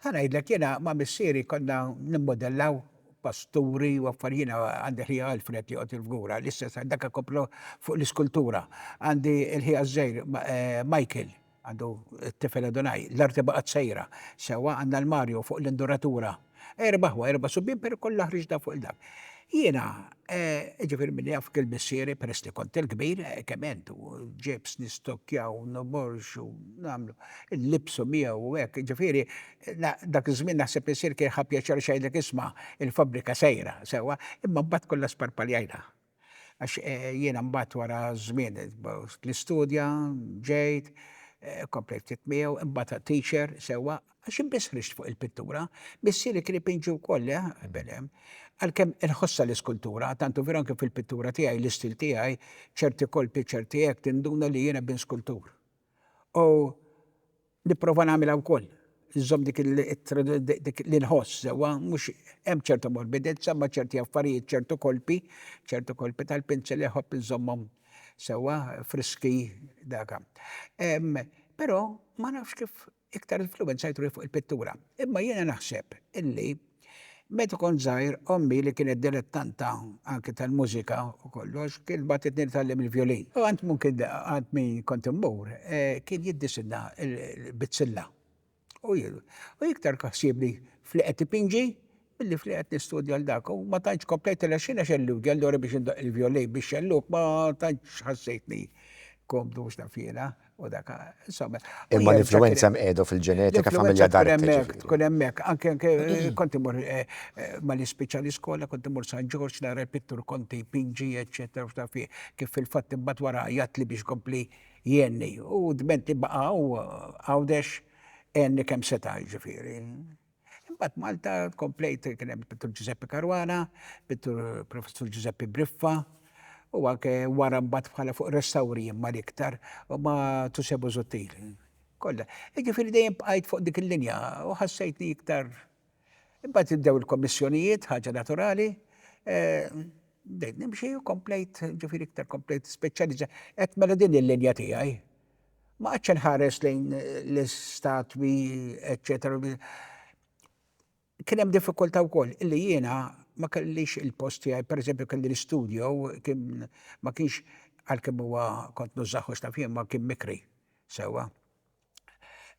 Ħa ngħidlek, jiena
ma' missieri konna nimmodellaw pasturi u affar, jiena għandi ħija Alfred li joqgħod il-fgura, l-istess għal dak ikomplu fuq l-iskultura. Għandi l-ħija ż-żgħir Michael, għandu t-tifel Adonai, l-arti baqgħet sejra sewwa, għandna l-Mario fuq l-induratura. Erba' ħwa, erba' subien, pero kollha ħriġna fuq il-dak. Jiena, jiġifieri min jaf kien missieri peress li kont il-kbir, kemm int, u ġibs nistokkjaw, noborxu, nagħmlu, inlibbsu miegħu u hekk, jiġifieri dak iż-żmien naħseb missier kien ħa pjaċir għax jgħidlek isma', il-fabbrika sejra, sewwa, imma mbagħad kollha sparpaljajna. Għax jiena mbagħad wara żmien l-istudja, ġejt, komplejt ftit miegħu, imbagħad għad teacher, sewwa, għax jien biss ħriġt fuq il-pittura. Missieri kien ipinġi wkoll, le, belem. Għalkemm inħossha l-iskultura, tantu veru anke fil-pittura tiegħi, l-istil tiegħi, ċerti kolpi, ċerti hekk, tinduna li jiena bin skultur. u nipprova nagħmilha wkoll, inżomm dik dik li nħoss sewwa, mhux hemm ċerta morbidezza imma ċerti affarijiet, ċertu kolpi, ċertu kolpi tal-pinzel inħobb inżommhom sewwa, friski, daka. Però ma nafx kif iktar influwenzajtuni fuq il-pittura. Imma jiena naħseb illi meta kont żgħir ommi li kienet dilettanta anke tal-mużika u kollox kienet bagħtitni nitgħallem il-vjolin. U għand mum kien għand min kont immur kien jiddisinna l-bizzilla. U iktar ħsiebni f'li qed ipinġi Billi f'li qed nistudja għal dak u ma tantx komplejt il-għexieren għax għelliewt ġej allura biex indoqq il-vjolin bix-xellug ma tantx ħassejtni komdu mhux naf jiena u dak insomma. Imma l-influwenza
hemm qiegħda u fil-ġenetika familja Dante ġifieri. L-influwenza tkun hemmhekk, tkun
hemmhekk. Anke anke kont immur malli spiċċa l-iskola kont immur San Ġorġ nara l-pittur Conte jpinġi eċċetera u x'naf jien. Kif fil-fatt imbagħad wara għajjatli biex jkompli jgħinni u dment li baqa' hu Għawdex għenni kemm seta' jiġifieri. Imbagħad Malta komplejt kien hemm pittur Ġużeppi Caruana, pittur Professur Ġużeppi Briffa, u anke wara mbagħad bħala fuq restawri imma l-iktar u ma' Tusse Busuttil. Kollha. Jiġifieri dejjem bqajt fuq dik il-linja u ħassejtni iktar. Imbagħad ibdew il-kommissjonijiet, ħaġa naturali, bdejt nimxi u komplejt, ġifieri iktar komplejt speċjalizzajt. Qed mela din il-linja tiegħi. Ma qgħadtx inħares lejn l-istatwi, eċċetera. Kien hemm diffikultà wkoll li jiena ma kellix il-post tiegħi, pereżempju kelli l-istudio kien ma kienx għalkemm huwa kont nużaħux ta' fien ma kien mikri. Sewwa.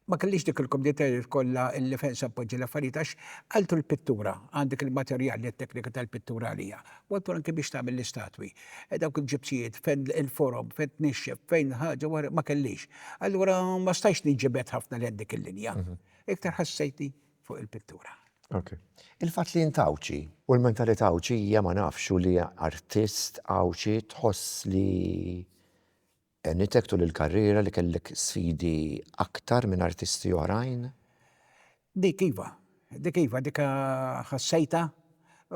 Ma kellix dik il-kumdità li tkollha l-lifensa tpoġġi l-affarijiet għax qaltu l-pittura, għandek il-materjal li t-teknika tal-pittura għaliha. Waqtu anki biex tagħmel l-istatwi. Dawk il-ġipsijiet, fejn il-forom, fejn tnixxef, fejn ħaġa waħda, ma kellix. Allura ma stajtx ninġibed ħafna lejn dik il-linja. Iktar ħassejtni fuq il-pittura. Ok. Il-fatt
li int Għawdxi u l-mentalità Għawdxija ma nafx u li artist Għawdxi tħoss li Għenitek tul il-karriera li kellek sfidi aktar minn artisti oħrajn? Dik
iva. Dik iva. Dik ħassejtha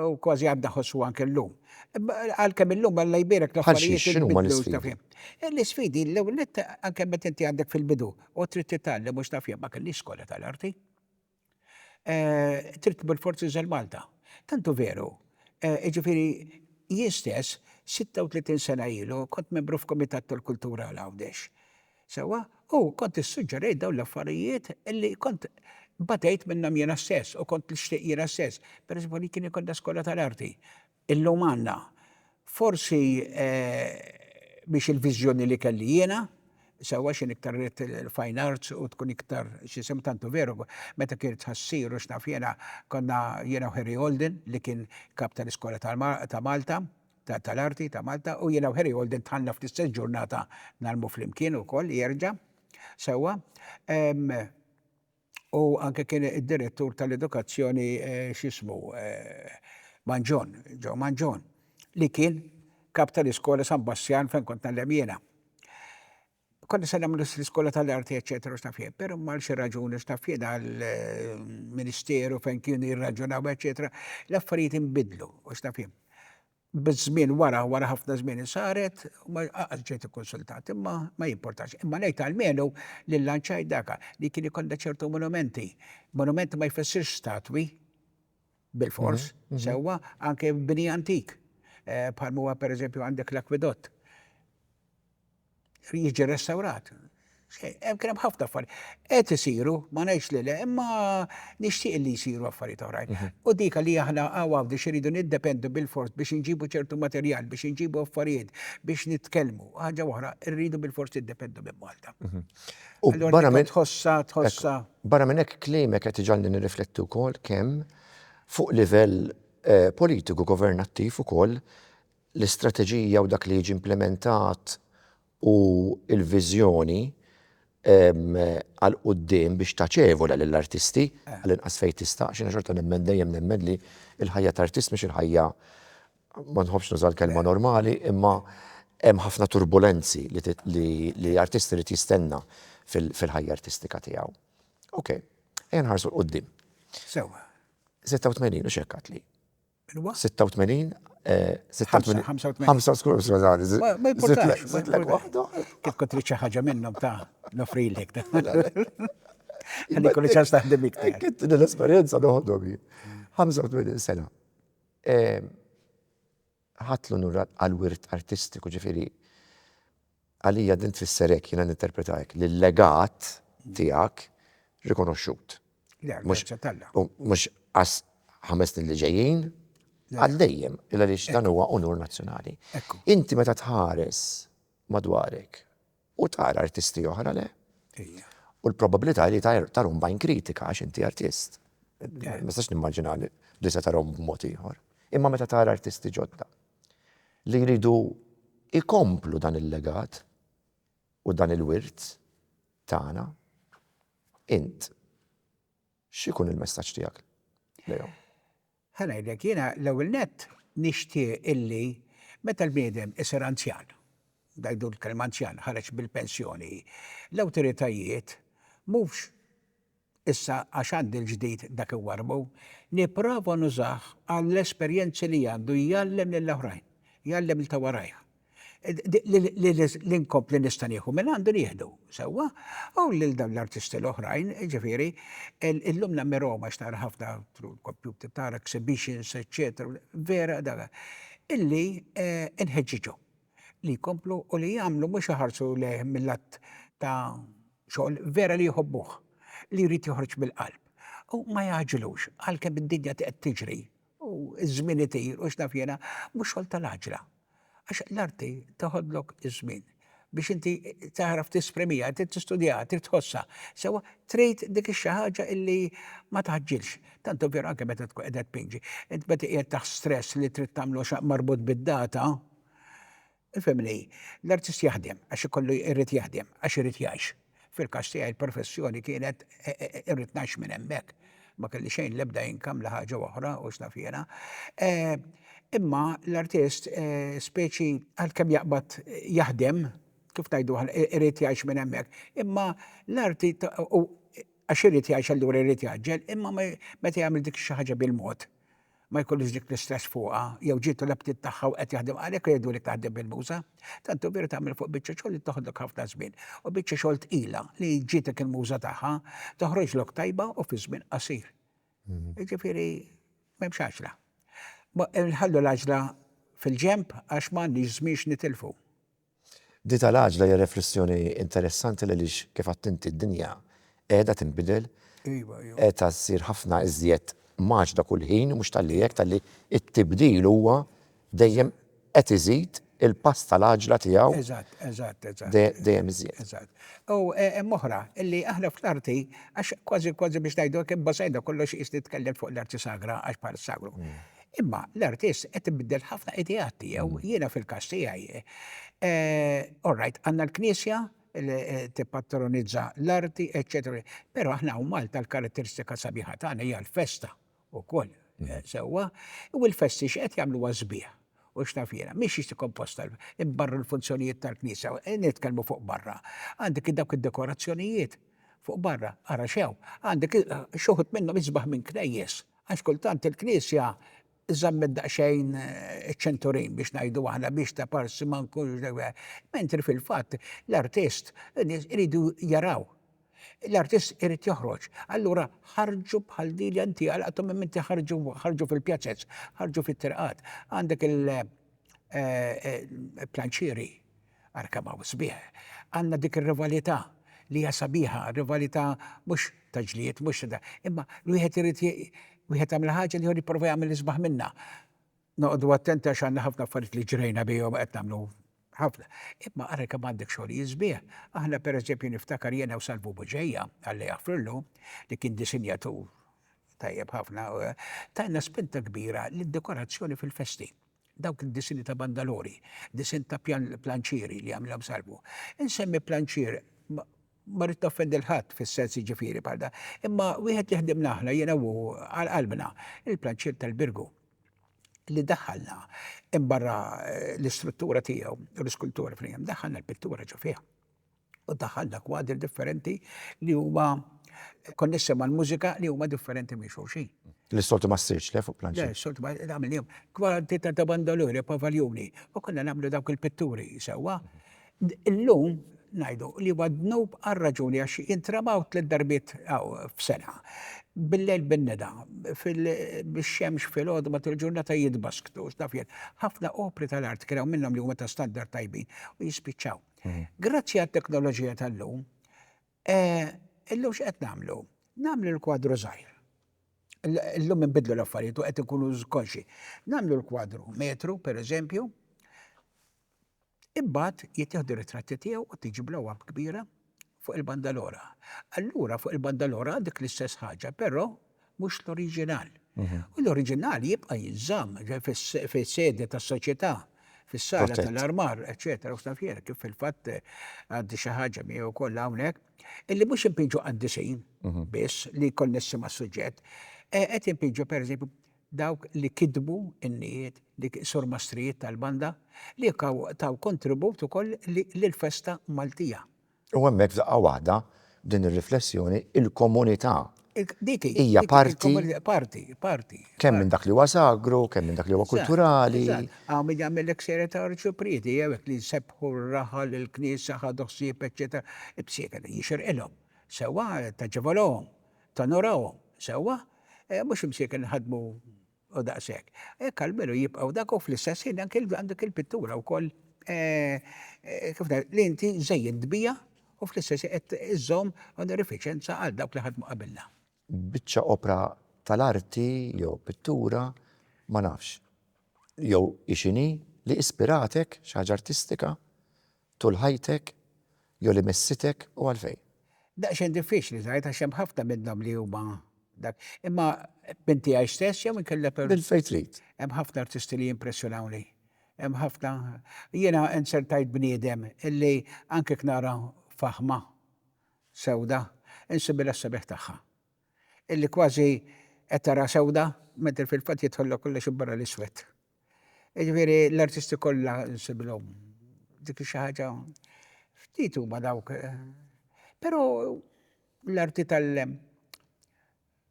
u kważi għad nħossuha anke llum. Għalkemm illum Alla jbierek l-affarijiet inbidlu. Bħal xi? X'inhuma
l-isfidi? L-isfidi
l-ewwel nett anke meta inti għadek fil-bidu u trid titgħallem u x'naf jien ma kellix skola tal-arti. Trid tmur forsi żel Malta. Tant hu veru. Jiġifieri jien stess, 36 sena ilu, kont membru f'kumitat tal-kultura għal Għawdex. Sewwa? U kont issuġġerejt dawn l-affarijiet li kont batejt minnhom jiena stess u kont nixtieq jiena stess. Pereżempju, li kien ikollna skola tal-arti. Illum għandna. Forsi mhix il-viżjoni li kelli jiena, sewwa x'inhi iktar ridt il-fine arts u tkun iktar x'isem tantu veru meta kien it-tħassir u x'naf jiena konna jiena u Harry Holden li kien kap tal-iskola ta' Malta tal-arti ta' Malta u jiena u Harry Holden dħalna fl-istess ġurnata ngħallmu flimkien ukoll jerġa' sewwa. U anke kien id-direttur tal-edukazzjoni x'ismu Manġon, Joe Manġon, li kien kap tal-iskola San Bastjan fejn kont ngħallem jiena. Konna se nagħmlu l-iskola tal-arti eċċetera u x'naf jien, però għal xi raġuni x'naf jien għall-ministeru fejn kienu jirraġunaw eċċetera, l-affarijiet inbidlu u x'naf jien. Biż-żmien wara, wara ħafna żmien insaret u ma għadx ġejt ikkunsultat, imma ma jimportax. Imma ngħid almenu li llanċajt daka li kien ikollha ċertu monumenti. Monumenti ma jfissirx statwi, bilfors, sewwa, anke bini antik. Bħal huwa pereżempju għandek l-akwidott. jiġi restawrat. Hemm kien hemm ħafna affarijiet. Qed isiru, ma ngħidx li le, imma nixtieq li jsiru affarijiet oħrajn. Mhm. U dik li aħna għaw għawdi xiridu niddependu bil-fors biex inġibu ċertu materjal, biex inġibu affarijiet, biex nitkellmu. Ħaġa oħra, rridu bil-fors niddependu minn Malta. Mhm. U
barra minn tħossa, tħossa. Barra minn hekk klimek qed iġalli nirriflettu
wkoll
kemm fuq livell eh, politiku governattiv ukoll l-istrateġija u dak li jiġi implimentat u l-viżjoni għal quddiem biex taċevola lill-artisti għall-inqas fejn tista' għax jiena xorta nemmen dejjem nemmen li l-ħajja ta' artist mhix il-ħajja ma nħobbx nuża l-kelma normali imma hemm ħafna turbulenzi li artist irid jistenna fil-ħajja artistika tiegħu. Okej, ejja nħarsu 'l quddiem.
Sewwa. 86
u x'hekk għadtli.
86 85 85 skużani. Ma
jimportax. Zitlek
waħda.
Kif kont trid xi ħaġa
minnhom ta' nofrilek. Għandi kulli ċans taħdem iktar. Kitt l-esperjenza
noħodhom jien. 85 sena. Ħatlu nurrat għal-wirt artistiku ġifieri Għalija din tfisser hekk, jiena ninterpreta hekk, li l-legat tiegħek rikonoxxut. Le, għall-grazzja t'Alla. U mhux għas ħames snin li ġejjin, għal dejjem, il għaliex dan huwa unur nazzjonali. Inti meta tħares madwarek u tara artisti oħra le? U l-probabilità li tarhom bajn kritika għax inti artist. Ma nistax nimmaġina li se tarhom b'mod ieħor. Imma meta tara artisti ġodda. li jridu jkomplu dan il-legat u dan il-wirt tagħna, int x'ikun il-messaġġ tiegħek lejhom? Ħa ngħidlek,
jiena l-ewwel nett nixtieq illi meta l-bniedem isir anzjan, ngħidu l-kelma anzjan, ħareġ bil-pensjoni, l-awtoritajiet mhux issa għax għandi l-ġdid dak iwarrbu, nipprova nużah għall-esperjenzi li għandu jgħallem lil oħrajn, jgħallem lil ta' warajh. Li nkompli nista' nieħu minn għandu nieħdu, sewwa, u lil dawn l-artisti l-oħrajn, jiġifieri, illum nammirahom għax nara ħafna through l-kompjuter tara exhibitions, eċċetera, vera dan, illi nħeġġiġhom li jkomplu u li jagħmlu mhux iħarsu lejh mil-lat ta' Xogħol vera li jħobbuh, li jrid joħroġ mill-qalb. U ma jagħġilux, għalkemm id-dinja qed tiġri u ż-żmien itir u x'naf jiena, mhux xogħol tal-għaġla. Għax l-arti teħodlok iż-żmien biex inti tagħraf tesprimiha, trid tistudjaha, trid tħossha. Sewwa, trid dik ix-xi ħaġa li ma tgħaġġilx. Tant hu veru anke meta tkun qiegħda tpinġi. Int meta qiegħed taħt stress li trid tagħmlu marbut bid-data, Ifhem li l-artist jaħdem għax ikollu jrid jaħdem għax irid jgħix. Fil-każ tiegħi l-professjoni kienet irrid ngħix minn hemmhekk. Ma kelli xejn l-ebda income la ħaġa oħra u x'naf jiena. Imma l-artist speċi għalkemm jaqbad jaħdem, kif ngħidu aħna, irid jgħix minn hemmhekk. Imma l-arti għax irid jgħix allura jrid jgħaġġel imma meta jagħmel dik xi ħaġa bil-mod ma jkollhiex dik l-istress fuqha, jew ġietu l-aptit tagħha u qed jaħdem għalhekk irridu li taħdem bil-muża. Tant hu veru tagħmel fuq biċċa xogħol li toħodlok ħafna żmien, u biċċa xogħol tqila li ġietek il-muża tagħha toħroġlok tajba u fi żmien qasir. Mhm. Jiġifieri m'hemmx għaġla. Nħallu l-għaġla fil-ġenb għax m'għandniex żmien x'nitilfu. Di
tal-għaġla hija reflessjoni interessanti għaliex kif għedt inti d-dinja qiegħda tinbidel, qiegħda ssir ħafna iżjed mgħaġġda kull ħin, mhux talli hekk talli t-tibdil huwa dejjem qed iżid il-pass tal-għaġla tiegħu
dejjem iżjed.
U
hemm oħra li aħna fl-arti għax kważi kważi biex ngħidu hekk imbasajna kollox qies nitkellem fuq l-arti sagra għax bħal sagru. Imma l-artist qed ibiddel ħafna ideat tiegħu. Jiena fil-każ tiegħi, all right, għandna l-Knisja li tippatronizza l-arti, eċċetera. Però aħna hawn Malta l-karatteristika sabiħa tagħna hija l-festa wkoll, sewwa? U l-festi x'qed jagħmluha sbieħ u x'naf jiena. Mhix jiġi komposta barra l-funzjonijiet tal-Knisja, nitkellmu fuq barra. Għandek dawk id-dekorazzjonijiet fuq barra, ara xew, għandek xi wħud minnhom isbaħ minn knejjes. Għax kultant il-Knisja żammet daqsxejn iċ-ċenturin biex ngħidu aħna biex ta' parsi ma nkunx mentri fil-fatt l-artist in-nies iridu jaraw. L-artist irid joħroġ. Allura ħarġu bħal din li inti għalaqthom imma inti ħarġu ħarġu fil-pjazez, ħarġu fit-triqat. Għandek il-planċieri. Arkamaw sbieħ. Għandna dik ir-rivalità li hija sabiħa, rivalità mhux ta' ġlied, mhux ta' imma l-wieħed irid wieħed jagħmel ħaġa l-ieħor jipprova jagħmel isbaħ minnha. Noqogħdu attenti għax għandna ħafna affarijiet li ġrejna bihom qed nagħmlu ħafna. Imma ara kemm għandek xogħlijiet sbieħ. Aħna pereżempju niftakar jiena u Salvu Buġeja, Alla jaħfrillu, li kien disinjatur tajjeb ħafna, tajna spinta kbira lid-dekorazzjoni fil-festi. Dawk id-disini ta' bandalori, disinn ta' planċieri li għamilhom Salvu. Insemmi planċier, ma rrid noffendi 'l ħadd fis-sens jiġifieri bħal dan, imma wieħed li ħdimna aħna, jiena u hu, għal qalbna, il-planċier tal-Birgu, li daħħalna minn barra l-istruttura tiegħu, l-iskultura fl-hemm, daħħalna l-pittura ġo fih. u daħħalna kwadri differenti li huma konnessi mal-mużika li huma differenti minn xulxin. Li s-soltu ma ssirx
le fuq planċi. Le, s-soltu ma nagħmilhom.
Kwadri ta' ta' bandoluri, pavaljuni, u konna nagħmlu dawk il-pitturi sewwa. Illum ngħidu li huwa dnub għal raġuni għax jintramaw tliet darbiet f'sena. Billejl bin-neda, bix-xemx filgħodu matul il-ġurnata jitbasktu, taf jien. Ħafna opri tal-art kien hawn minnhom li huma ta' standard tajbin u jispiċċaw. Grazzi għat-teknoloġija tal-lum, illum x'qed nagħmlu? Nagħmlu l-kwadru żgħir. Illum inbidlu l-affarijiet u qed inkunu konxi. Nagħmlu l-kwadru metru, pereżempju, imbagħad jittieħdu ritratti tiegħu u tiġi blow-up kbira fuq il-banda l-oħra. Allura fuq il-banda l-oħra dik l-istess ħaġa, però mhux l-oriġinal. U l-oriġinal jibqa' jinżamm fis-sede tas-soċjetà, fis-sala tal-armar, eċċetera, u x'naf jien, kif fil-fatt għandi xi ħaġa miegħi wkoll hawnhekk, illi mhux inpiġġu qaddisin biss li jkollna isem għas-suġġett, qed inpiġġu pereżempju dawk li kitbu n-nijiet, li surmastrijiet tal-banda, li taw kontribut ukoll lill-festa Maltija. U hemmhekk f'daqqa
waħda, b'din ir-riflessjoni, il-komunità
hija parti,
parti, parti,
kemm minn dak li huwa
sagru, kemm minn dak li huwa kulturali. Eżatt, hawn min jagħmillek
serje ta' arċiprieti, jew hekk li jsebbħu r-raħal, il-knisja, ħadu ħsieb, eċċetera, b'sieqel, jixirqilhom, sewwa, taġevolhom, Tonorahom sewwa, mhux imsieken iħaddmu u daqshekk. Hekk almenu jibqgħu dak u fl-istess ħin anki għand dik il-pittura wkoll kif ngħid, li inti żejjint biha u fl-istess ħin qed iżżomm onorifiċenza għal dawk li ħadmu qabilna. Biċċa opra
tal-arti jew pittura, ma nafx, jew hi x'inhi, li ispiratek, xi ħaġa artistika, Tul ħajtek, jew li missietek u għalfejn? Daqsxejn diffiċli
tgħid għax hemm ħafna minnhom li huma dak. Imma minn tiegħi stess jew inkella per. Minn fejn trid.
Hemm ħafna artisti li
jimpressjonawni. Hemm ħafna. Jiena inzertajt bniedem illi anke jekk nara faħma sewda, insibbilha s-sabiħ tagħha. Illi kważi qed taraha sewda, mentri fil-fatt jidħollha kollox minn barra l-iswed. Jiġifieri l-artisti kollha nsibilhom. Dik xi ħaġa ftit huma dawk. Però l-arti tal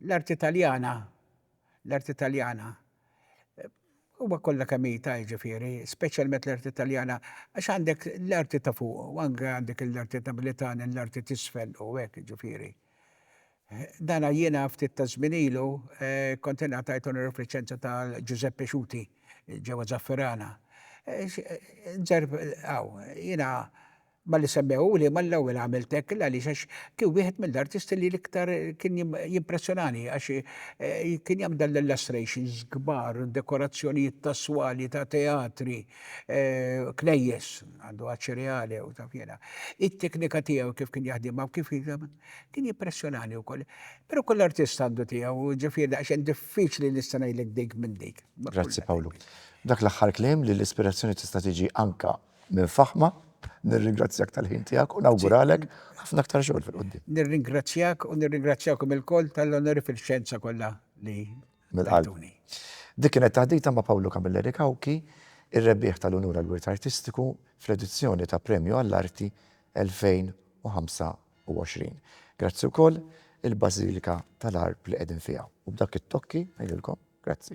l-arti Taljana, l-arti Taljana huma kollha kemm hi ta' jiġifieri, speċjalment l-arti Taljana, għax għandek l-arti ta' fuq u anke għandek l-arti napolitana, l-arti t'isfel u hekk jiġifieri. Dana jiena ftit ta' żmien ilu kont ingħatajt onorifliċenza ta' Ġużepp Pixuti ġewwa Zaffirana. Nzerrb hawn. Jiena malli semmewhuli mal-ewwel għamilt hekk l-għaliex għax kien wieħed mill-artisti li l-iktar kien jimpressjonani għax kien jagħmel dan l-illustrations kbar, dekorazzjonijiet ta' swali ta' teatri, knejjes, għandu Acireale u taf jiena. It-teknika tiegħu kif kien jaħdimha u kif. Kien jippressjonani wkoll. Però kull artist għandu tiegħu, ġifieri daqsxejn diffiċli nista' ngħidlek dik minn dik. Grazzi Pawlu.
Dak l-aħħar kliem li l-ispirazzjoni tista' tiġi anke minn faħma. Nirringrazzjak tal-ħin tiegħek u nawguralek ħafna aktar xogħol fil-quddiem. Nirringrazzjak u
nirringrazzjakom ilkoll tal-onori fil-xjenza kollha li mill-qalb.
Dik kienet taħdita ma' Pawlu Camilleri Cauchi, ir-rebbieħ tal-unur għall-wirt artistiku fl-edizzjoni ta' Premju għall-Arti 2025. Grazzi wkoll il-Bażilika tal-Għarb li qegħdin fiha. U b'dak it-tokki ngħidilkom grazzi.